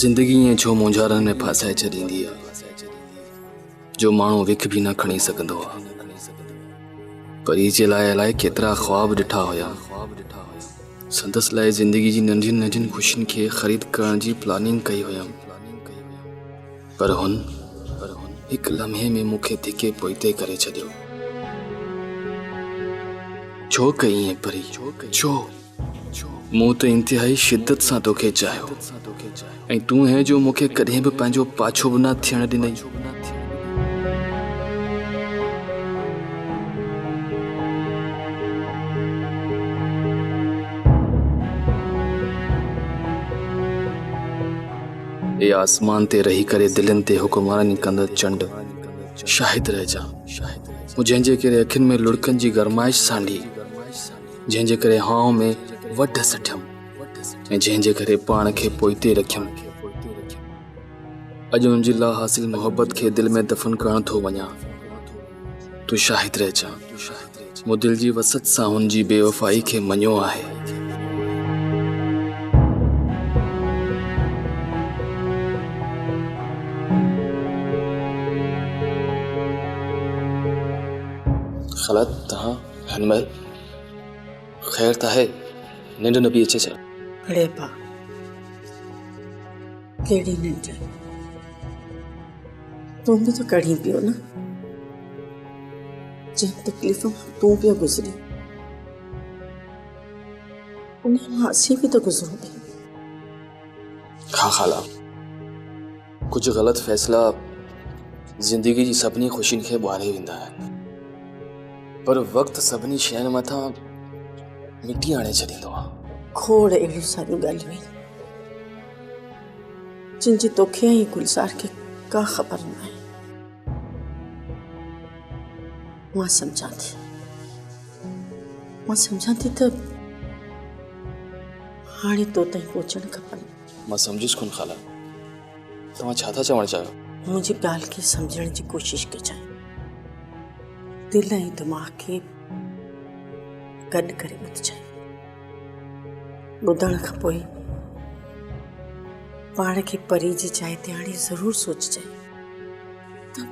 زندگي ائين ڇو مونجهارن ۾ ڦاسائي ڇڏيندي آ جو ماڻهو وک به نه کڻي سگهندو آ پري جي لاء الاء ڪيترا خواب ڏٺا هيا سندس لاء زندگي جي ننڍين ننڍين خوشين کي خريد ڪرڻ جي پلاننگ ڪئي هيم پر هن هڪ لمحي ۾ مون کي ڌڪي پوئتي ڪري ڇڏيو. ڇو ڪئي ائين پري؟ ڇو؟ مون ته انتهائي شدت سان توکي چاهيو ۽ تون هين جو مون کي ڪڏهن به پنهنجو پاڇو به نه ٿيڻ ڏنئي. اي آسمان تي رهي ڪري دلين تي حڪمراني ڪندڙ چنڊ، شاهد رهجان، مون جنهن جي ڪري اکين ۾ لڙڪن جي گرمائش سانڍي، جنهن جي ڪري هانء ۾ وڍ سٺيم ۽ جنهن جي ڪري پاڻ کي پوئتي رکيم، اڄ ان جي لاحاصل محبت کي دل ۾ دفن ڪرڻ ٿو وڃان. تون شاهد رهجان مون دل جي وسعت سان هن جي بي وفائي کي مڃيو آهي خلا تهان هن مهل خير ته آهي ننڊ نه پئي اچي ڇا؟ ريبا ڪهڙي ننڊ؟ تون به ته ڪڙهين پيو نه، جنهن تڪليف مان تون پيو گذرين، ان مان اسين به ته گذرون پيا. ها خالا، ڪجهه غلط فيصلا زندگي جي سڀني خوشين کي ٻاري ويندا آهن، پر وقت سڀني شين مٿان مٽي آڻي ڇڏيندو آهي. کوڙ اهڙيون ساريون ڳالهيون آهن. جن جي توکي ۽ گلزار کي ڪا خبر ناهي. مان سمجهان ٿي. مان سمجهان ٿي ته هاڻي تو تائين پهچڻ کپن. مان سمجهيس ڪونه خالا. توهان ڇا ٿا چوڻ چاهيو؟ منهنجي ڳالهه کي سمجهڻ جي ڪوشش ڪجانء. دل ۽ دماغ کي گڏ ڪري ٻڌجانء. ٻڌڻ کان پوء پاڻ کي پري جي جاء تي آڻي ضرور سوچجانء ته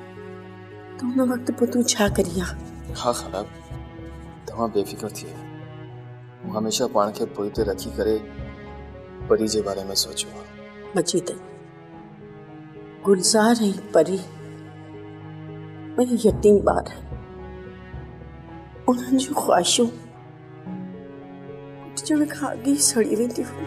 ان وقت پوء تون ڇا ڪرين ها؟ ها خراب توهان بي فڪر ٿيو مون هميشه پاڻ کي پوئي تي رکي ڪري پري جي باري ۾ سوچيو آهي مجيد گلزار ۽ پري ٻئي يتيم ٻار انهن جون خواهشون ڪٽجڻ کان اڳ ئي سڙي ويندي هئي.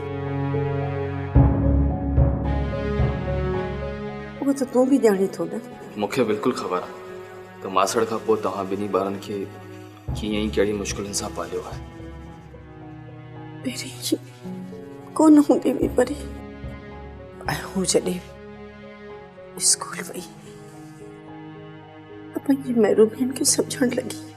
اهو ته تون به ڄاڻين ٿو نه. مون کي بلڪل خبر آهي ته ماسڙ کان پوء توهان ٻنهي ٻارن کي ڪيئن ۽ ڪهڙي مشڪلن سان پاليو آهي. پهرين هي ڪونه هوندي هئي پري ۽ هو جڏهن اسڪول وئي ته پنهنجي محرومين کي سمجهڻ لڳي.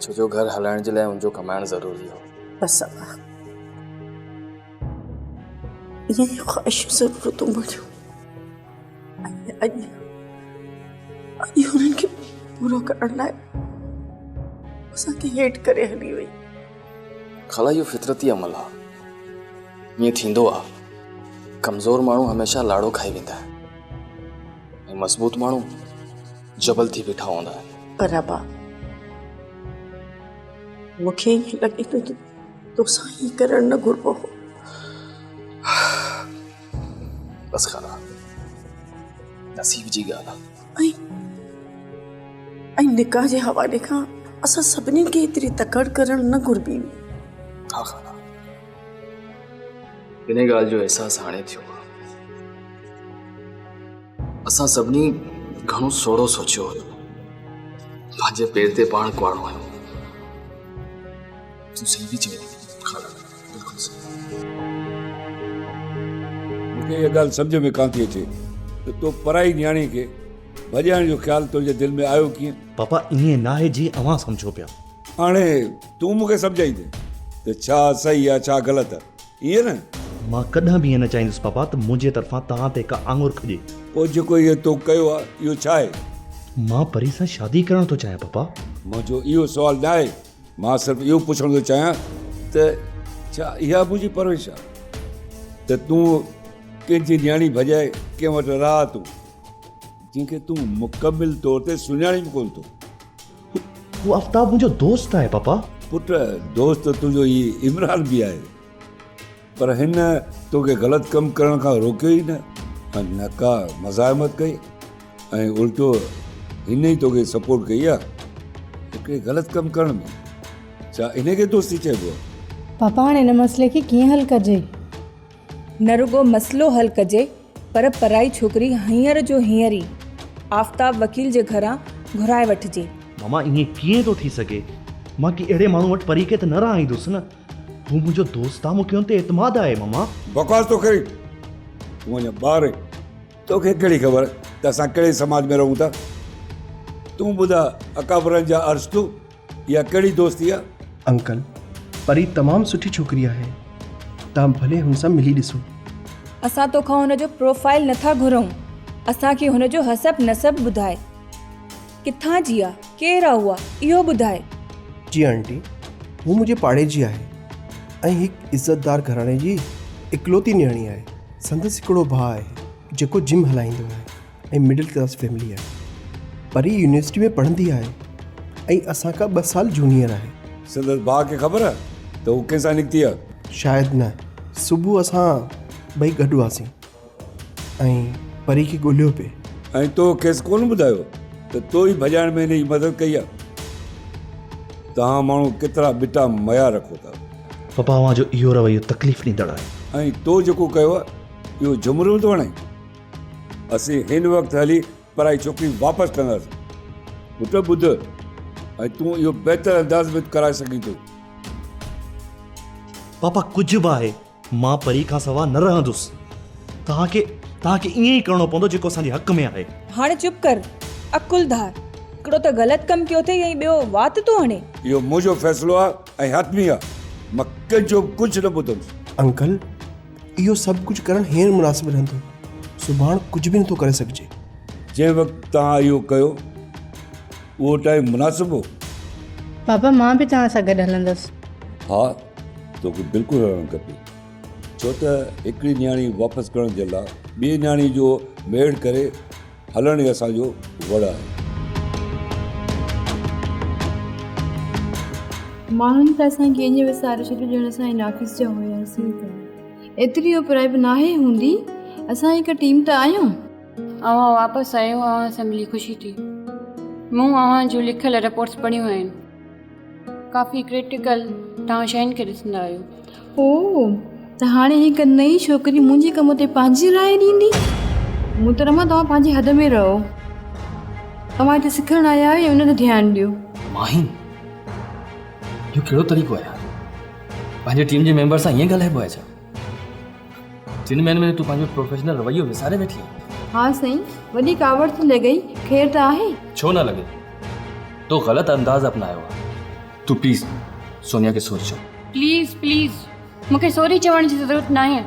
ڇو جو گهر هلائڻ جي لاء ان جو ڪمائڻ ضروري هو. بس ابا اهي ئي خواهشون ضرورتون منهنجون ۽ اڄ اڄ انهن کي پورو ڪرڻ لاء اسان کي هيٺ ڪري هلي وئي. خالا اهو فطرتي عمل آهي. ائين ٿيندو آهي. ڪمزور ماڻهو هميشه لاڙو کائي ويندا آهن ۽ مضبوط ماڻهو. جبل ٿي بيٺا هوندا آهن. پر ربا! مون کي ائين لڳي ٿو ته توسان ائين ڪرڻ نه گهربو هو. بس خانا، نصيب جي ڳالهه آهي. ۽ نڪاح جي حوالي کان اسان سڀني کي ايتري تڪڙ ڪرڻ نه گهربي هئي. ها خانا، انهيء ڳالهه جو احساس هاڻي ٿيو آهي. اسان سڀني گهڻو سوڙهو سوچيو هيو. پنهنجي پير تي پاڻ ڪهاڙو آهيون. تون صحيح ٿي چوين خالا بلڪل صحيح. مون کي اها ڳالهه سمجهه ۾ ڪانه ٿي اچي ته تو پرائي نياڻي کي ڀڄائڻ جو خيال تنهنجي دل ۾ آيو ڪيئن؟ پاپا ائين ناهي جيئن اوهان سمجهو پيا. هاڻي تون مون کي سمجهائيندين ته ڇا صحيح آ ڇا غلط. ائين نه؟ مان ڪڏهن به ائين نه چاهيندس پاپا ته منهنجي طرفان توهان تي ڪا آڱر کڄي. پوء جيڪو هيء تو ڪيو آهي، اهو ڇا آهي؟ مان پري سان شادي ڪرڻ ٿو چاهيان پاپا. منهنجو اهو سوال نه آهي. مان صرف اهو پڇڻ ٿو چاهيان ته ڇا اها منهنجي پرورش آهي ته تون ڪنهن جي نياڻي ڀڄائي ڪنهن وٽ رهاء ٿو، جنهن کي تون مڪمل طور تي سڃاڻين به ڪونه ٿو؟ هو آفتاب منهنجو دوست آهي پاپا. پٽ دوست ته تنهنجو هي عمران به آهي پر هن توکي غلط ڪم ڪرڻ کان روڪيو ئي نه ۽ نه ڪا مزاحمت ڪئي ۽ الٽو هن ئي توکي سپورٽ ڪئي آهي هڪڙي غلط ڪم ڪرڻ ۾ ڇا انهي کي دوستي چئبو آهي. پاپا هاڻي هن مسئلي کي ڪيئن حل ڪجي؟ نه رڳو مسئلو حل ڪجي پر پرائي ڇوڪري هينئر جو هينئر ئي آفتاب وڪيل جي گهران گهرائي وٺجي. ماما ائين ڪيئن ٿو ٿي سگهي؟ مان ڪنهن اهڙي ماڻهو وٽ پرينڪي ته نه رهائيندس نه؟ هو منهنجو دوست آ، مون کي هن تي اعتماد آهي ماما. بڪواس ٿو ڪرين؟ تون اڃا ٻار آهين، توکي ڪهڙي خبر ته اسان ڪهڙي سماج ۾ رهون ٿا؟ تون ٻڌاء اڪابرن جا ارسطو اها ڪهڙي دوستي آ؟ انڪل پري تمام سٺي ڇوڪري آهي تهان ڀلي هن سان ملي ڏسو. اسان توکان هن جو پروفائيل نٿا گهرئون اسان کي هن جو حسب نسب ٻڌاء ڪٿان جي آ ڪير آ اها اهو ٻڌاء. جي آنٽي هو منهنجي پاڙي جي آهي ۽ هڪ عزتدار گهراڻي جي اڪلوتي نياڻي آهي سندس هڪڙو ڀاء آهي جيڪو جم هلائيندو آهي. ۽ مڊل ڪلاس فيملي آهي پر هي يونيورسٽي ۾ پڙهندي آهي ۽ اسان کان ٻه سال جونيئر آهي. سندس ڀاء کي خبر آهي ته هو ڪنهن سان نڪتي آهي؟ شايد نه. صبح اسان ٻئي گڏ هئاسين ۽ پري کي ڳولهيو پئي. ۽ تو کيس ڪونه ٻڌايو ته تو ئي ڀڄائڻ ۾ هن جي مدد ڪئي آهي. توهان ماڻهو ڪيترا ٻٽا ميا رکو ٿا. پپا اوهان جو اهو رويو تڪليف ڏيندڙ آهي. ۽ تو جيڪو ڪيو آهي اهو جهمريون ٿو هڻين. اسين هن وقت هلي پرائي ڇوڪري واپس ڪنداسين. پٽ ٻڌ، ۽ تون اهو بهتر انداز ۾ ڪرائي سگهين ٿو. پاپا ڪجهه به آهي، مان پري کان سوا نه رهندس. توهان کي، توهان کي ائين ئي ڪرڻو پوندو جيڪو اسان جي حق ۾ آهي. هاڻي چپ ڪر، عقلدار. هڪڙو ته غلط ڪم ڪيو اٿئي ۽ ٻيو وات ٿو هڻي. اهو منهنجو فيصلو آهي ۽ حتمي آهي. مان ڪنهن جو به ڪجهه نه ٻڌندس. انڪل! اهو سڀ ڪجهه ڪرڻ هينئر مناسب رهندو، سڀاڻ ڪجهه به نٿو ڪري سگهجي. جنهن وقت توهان اهو ڪيو، اهو ٽائيم مناسب هو. بابا مان به توهان سان گڏ هلندس. ها، توکي بلڪل هلڻ کپي. ڇو ته هڪڙي نياڻي واپس ڪرڻ جي لاء ٻي نياڻي جو ميڙ ڪري. هلڻ ئي اسان جو وڙ آهي. ماڻهن ته اسان کي ائين وساري ڇڏيو ڄڻ اسان ئي ناقص جا هياسين ته ايتري اوپرائي به ناهي هوندي. اسان هڪ ٽيم ته آهيون. اوهان واپس آيو اوهان سان ملي خوشي ٿي. مون اوهان جون لکيل رپورٽس پڙهيون آهن. ڪافي ڪرٽيڪل توهان شين کي ڏسندا آهيو. او ته هاڻي هڪ نئين ڇوڪري منهنجي ڪم تي پنهنجي راء ڏيندي. محترمه توهان پنهنجي حد ۾ رهو. توهان هتي سکڻ آيا آهيو ان تي ڌيان ڏيو. ماهين اهو ڪهڙو طريقو آهي يار پنهنجي ٽيم جي ميمبر سان ائين ڳالهائبو آهي ڇا؟ جن مهينن ۾ تون پنهنجو پروفيشنل رويو وساري ويٺي آهين ها سائين وڏي ڪاوڙ ٿي لڳئي خير ته آهي ڇو نه لڳي تو غلط انداز اپنايو آهي تون پليز سونيا کي سوري چئو پليز پليز مون کي سوري چوڻ جي ضرورت ناهي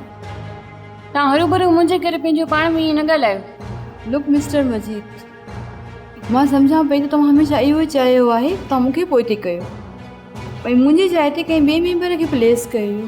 تان هروڀرو منهنجي ڪري پنهنجو پاڻ ۾ ائين نه ڳالهايو لڪ مسٽر مجيد مان سمجهان پئي ته توهان هميشه اهو ئي چاهيو آهي ته توهان مون کي پوئتي ڪيو ۽ منهنجي جاء تي ڪنهن ٻئي ميمبر کي پليس ڪيو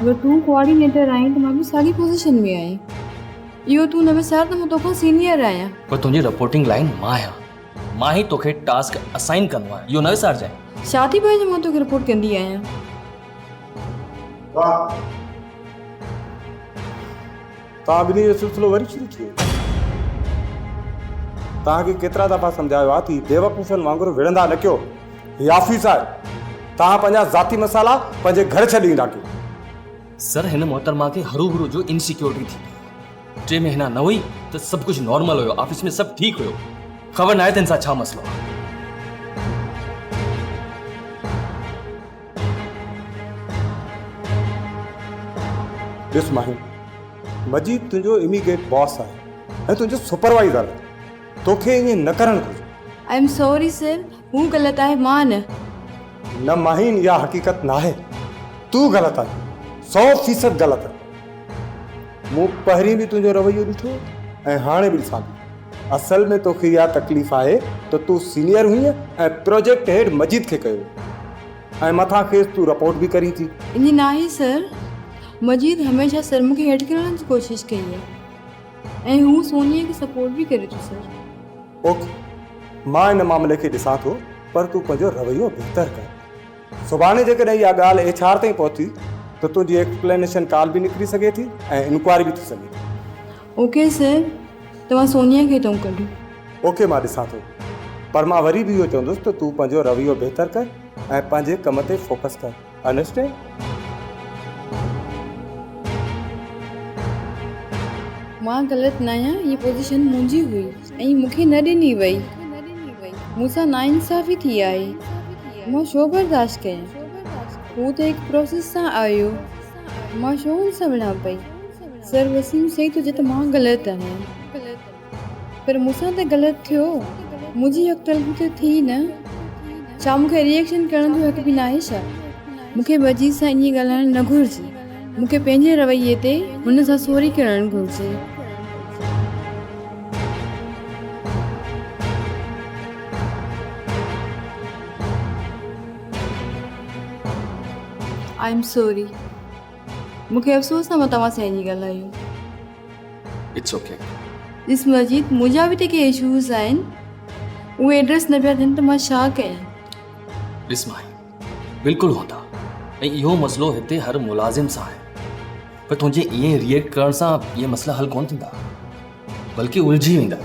اگر تون ڪوآرڊينيٽر آهين ته مان به ساڳي پوزيشن ۾ آهيان اهو تون نه وسار ته مان توکان سينيئر آهيان پر تنهنجي رپورٽنگ لائين مان آهيان مان هي توکي ٽاسڪ اسائين ڪندو آهيان اهو نه وسارجانء. ڇا ٿي پوي جو مان توکي رپورٽ ڪندي آهيان. توهان ٻنهي جو سلسلو وري شروع ٿي ويو. توهان کي ڪيترا دفعا سمجهايو آهي ته بيوقوفن وانگر وڙهندا نه ڪيو. هي آفيس آهي. توهان پنهنجا ذاتي مسئلا پنهنجي گهر ڇڏي ايندا ڪيو. سر هن محترمه کي هرو هرو جو انسيڪيورٽي ٿي پئي. ٽي مهينا نه هئي ته سڀ ڪجهه نارمل هيو. آفيس ۾ سڀ ٺيڪ هيو. خبر ناهي ته هن سان ڇا مسئلو آهي. ڏس ماهي، مجيد تنهنجو اميگيٽ باس آهي ۽ تنهنجو سپروائيزر به. توکي ائين نه ڪرڻ گهرجي. آء ايم سوري سر، هو غلط آهي مان نه. نه ماهين اها حقيقت ناهي. تون غلط آهين. سؤ فيصد غلط آهين. مون پهرين به تنهنجو رويو ڏٺو ۽ هاڻي به ڏسان ٿي. اصل ۾ توکي اها تڪليف آهي ته تون سينيئر هئين ۽ پراجيڪٽ هيڊ مجيد کي ڪيو ۽ مٿان کيس تون رپورٽ به ڪرين ٿي. ائين ناهي سر، مجيد هميشه سر مون کي هيڊ ڪرڻ جي ڪوشش ڪئي آهي ۽ هو سونيء کي سپورٽ به ڪري ٿو سر. اوڪي، مان ان معاملي کي ڏسان ٿو پر تون پنهنجو رويو بهتر ڪر. سڀاڻي جيڪڏهن اها ڳالهه ايڇ آر تائين پهتي ته تنهنجي ايڪسپلينيشن ڪال به نڪري سگهي ٿي ۽ انڪوائري به ٿي سگهي ٿي. او ڪي سر توهان سونيا کي تون ڪڍو. او ڪي مان ڏسان ٿو پر مان وري به اهو چوندس ته تون پنهنجو رويو بهتر ڪر ۽ پنهنجي ڪم تي فوڪس ڪر انڊرسٽينڊ. مان غلط ناهيان هي پوزيشن منهنجي هئي ۽ مون کي نه ڏني وئي مون سان ناانصافي ٿي آهي مان ڇو برداشت ڪيان هو ته هڪ پروسيس سان آيو مان ڇو هن سان وڙهان پئي. سر وسيم سائين تجھي ته مان غلط آهيان پر مون سان ته غلط ٿيو منهنجي حق تلفي ته ٿي نه ڇا مون کي ريئڪشن ڪرڻ جو حق به ناهي ڇا مون کي مجيد سان ائين ڳالهائڻ نه گهرجي مون کي پنهنجي رويي تي هن سان سوري ڪرڻ گهرجي. I am sorry. مون کي افسوس آهي مان توهان سان ايئن ڳالهايو. It's okay. ڏس مجيد منهنجا به ته ڪي اشوز آهن اهي ايڊريس نه پيا ڏين ته مان ڇا ڪيان. ڏس مائي بلڪل هوندا ۽ اهو مسئلو هتي هر ملازم سان آهي پر تنهنجي ايئن ريئيڪٽ ڪرڻ سان اهي مسئلا حل ڪونه ٿيندا بلڪه الجهي ويندا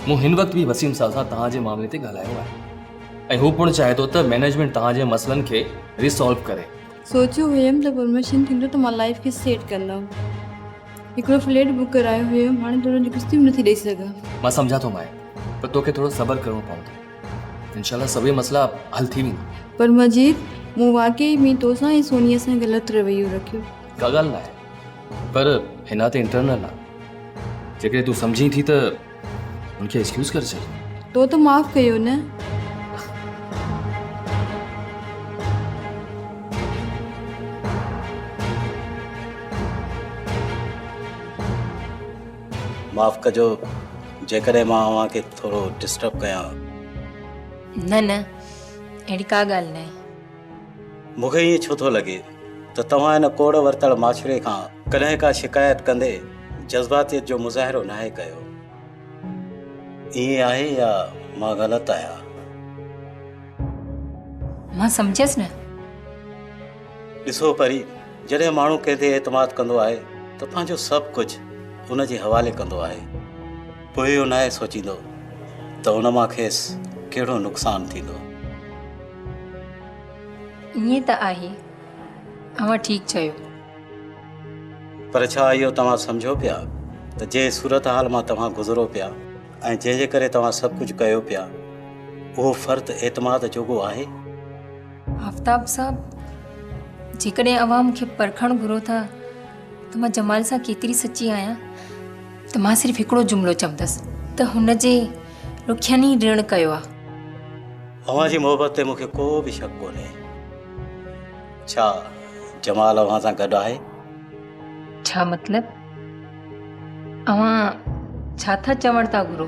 مون هن وقت به وسيم صاحب سان توهان جي معاملي تي ڳالهايو آهي ۽ هو پڻ چاهي ٿو ته مينيجمنٽ توهان جي مسئلن کي ريسالو ڪري سوچيو هيم ته پروموشن ٿيندو ته مان لائيف کي سيٽ ڪندم هڪڙو فليٽ بڪ ڪرايو هيم هاڻي ته ان جون قسطيون به نٿي ڏئي سگهان. مان سمجهان ٿو ماهي پر توکي ٿورو صبر ڪرڻو پوندو انشاء الله سڀئي مسئلا حل ٿي ويندا. پر مجيد مون واقعي ۾ توسان ۽ سونيا سان غلط رويو رکيو. ڪا ڳالهه ناهي پر هن تي انٽرنل آ جيڪڏهن تون سمجهين ٿي ته. ان کي ايڪسڪيوز ڪري ڇڏ تو ته معاف ڪيو نه معاف ڪجو جيڪڏهن مان اوهان کي ٿورو ڊسٽرب ڪيان نه نه اهڙي ڪا ڳالهه ناهي مون کي ائين ڇو ٿو لڳي ته توهان هن ڪوڙ ورتل ماڇري کان ڪڏهن ڪا شڪايت ڪندي جذباتيت جو مظاهرو ناهي ڪيو؟ ائين آهي يا مان غلط آهيان؟ مان سمجهيس نه. ڏسو پري، جڏهن ماڻهو ڪنهن تي اعتماد ڪندو آهي ته پنهنجو سڀ ڪجهه ان جي حوالي ڪندو آهي. پوء اهو ناهي سوچيندو ته ان مان کيس ڪهڙو نقصان ٿيندو. ائين ته آهي، اوهان ٺيڪ چيو. پر ڇا اهو توهان سمجهو پيا ته جنهن صورتحال مان توهان گذرو پيا ۽ جنهن جي ڪري توهان سڀ ڪجهه ڪيو پيا، اهو فرد اعتماد جوڳو آهي؟ آفتاب صاحب، جيڪڏهن اوهان مون کي پرکڻ گهرو ٿا ته مان جمال سان ڪيتري سچي آهيان ته مان صرف هڪڙو جملو چوندس ته هن جي رخين ئي رڻ ڪيو آهي. اوهان جي محبت تي مونکي ڪو به شڪ ڪونهي. ڇا جمال اوهان سان گڏ آهي؟ ڇا مطلب؟ اوهان ڇا ٿا چوڻ ٿا گهرو؟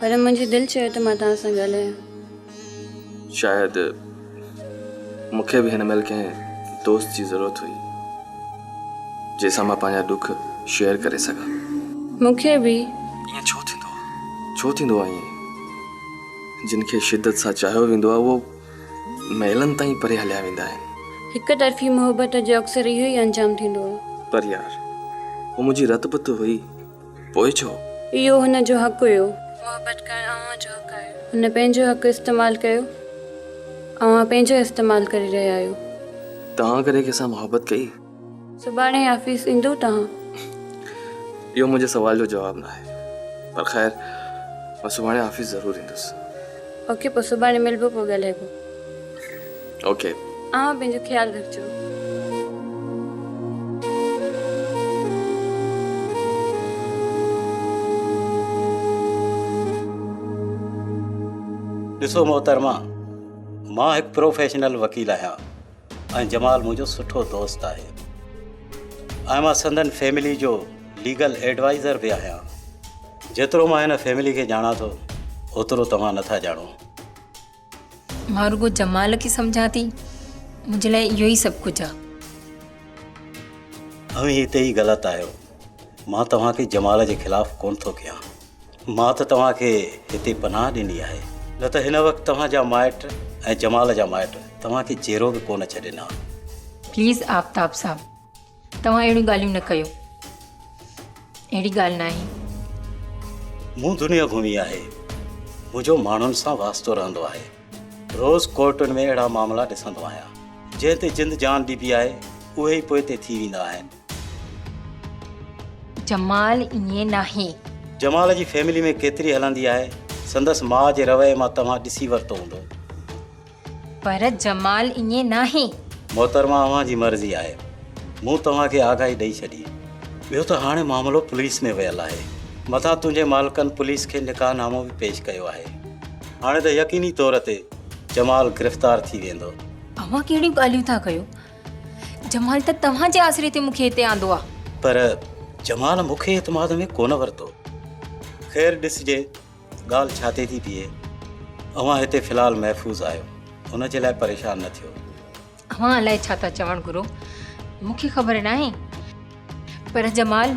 پر منهنجي دل چيو ته مان توهان سان ڳالهايان. شايد مون کي به هن مهل ڪنهن دوست جي ضرورت هئي، جنهن سان مان پنهنجا ڏک شيئر ڪري سگهان. مون کي به. ائين ڇو ٿيندو آهي؟ ڇو ٿيندو آهي ائين؟ جن کي شدت سان چاهيو ويندو آهي، اهو ميلن تائين پري هليا ويندا آهن. هڪ طرفي محبت جو اڪثر اهو ئي انجام ٿيندو آهي. پر يار، هوء منهنجي رت بت هئي. پوء ڇو؟ اهو هن جو حق هيو. محبت ڪرڻ اوهان جو حق آهي. هن پنهنجو حق استعمال ڪيو. اوهان پنهنجو استعمال ڪري رهيا آهيو. توهان ڪڏهن ڪنهن سان محبت ڪئي؟ سڀاڻي آفيس ايندو توهان؟ اهو منهنجي سوال جو جواب ناهي. پر خير مان سڀاڻي آفيس ضرور ايندس. اوڪي پوء سڀاڻي ملبو پوء ڳالهائبو. اوڪي. اوهان پنهنجو خيال رکجو. ڏسو محترمه مان هڪ پروفيشنل وڪيل آهيان ۽ جمال منهنجو سٺو دوست آهي ۽ مان سندن فيملي جو ليگل ايڊوائزر به آهيان جيترو مان هن فيملي کي ڄاڻان ٿو اوترو توهان نٿا ڄاڻو مان رڳو جمال کي سمجهان ٿي، منهنجي لاء اهو ئي سڀ ڪجهه آ. اوهين هتي ئي غلط آهيو، مان توهان کي جمال جي خلاف ڪونه ٿو ڪيان، مان ته توهان کي هتي پناهه ڏني آهي، نه ته هن وقت توهان جا مائٽ ۽ جمال جا مائٽ توهان کي جيرو به ڪونه ڇڏين ها. پليز آفتاب صاحب توهان اهڙيون ڳالهيون نه ڪيو. اهڙي ڳالهه ناهي. مون دنيا گهمي آهي. منهنجو ماڻهن سان واسطو رهندو آهي. روز ڪورٽن ۾ اهڙا معاملا ڏسندو آهيان. جنهن تي جند جان ڏبي آهي، اهي ئي پوئتي ٿي ويندا آهن. جمال ائين ناهي. جمال جي فيملي ۾ ڪيتري هلندي آهي. سندس ماء جي رويي مان توهان ڏسي ورتو هوندو. پر جمال ائين ناهي. محترمه اوهان جي مرضي آهي. مون توهان کي آگاهي ڏئي ڇڏي. ٻيو ته هاڻي معاملو پوليس ۾ ويل آهي. مٿان تنهنجي مالڪن پوليس کي نڪاح نامو به پيش ڪيو آهي. هاڻي ته يقيني طور تي جمال گرفتار ٿي ويندو. اوهان ڪهڙيون ڳالهيون ٿا ڪيو. جمال ته توهان جي آسري تي مون کي هتي آندو آهي. پر جمال مون کي اعتماد ۾ ڪونه ورتو. خير ڏسجي ڳالهه ڇا تي ٿي بيهي؟ اوهان هتي في الحال محفوظ آهيو، ان جي لاء پريشان نه ٿيو. اوهان الائي ڇا ٿا چوڻ گرو، مون کي خبر ناهي، پر جمال.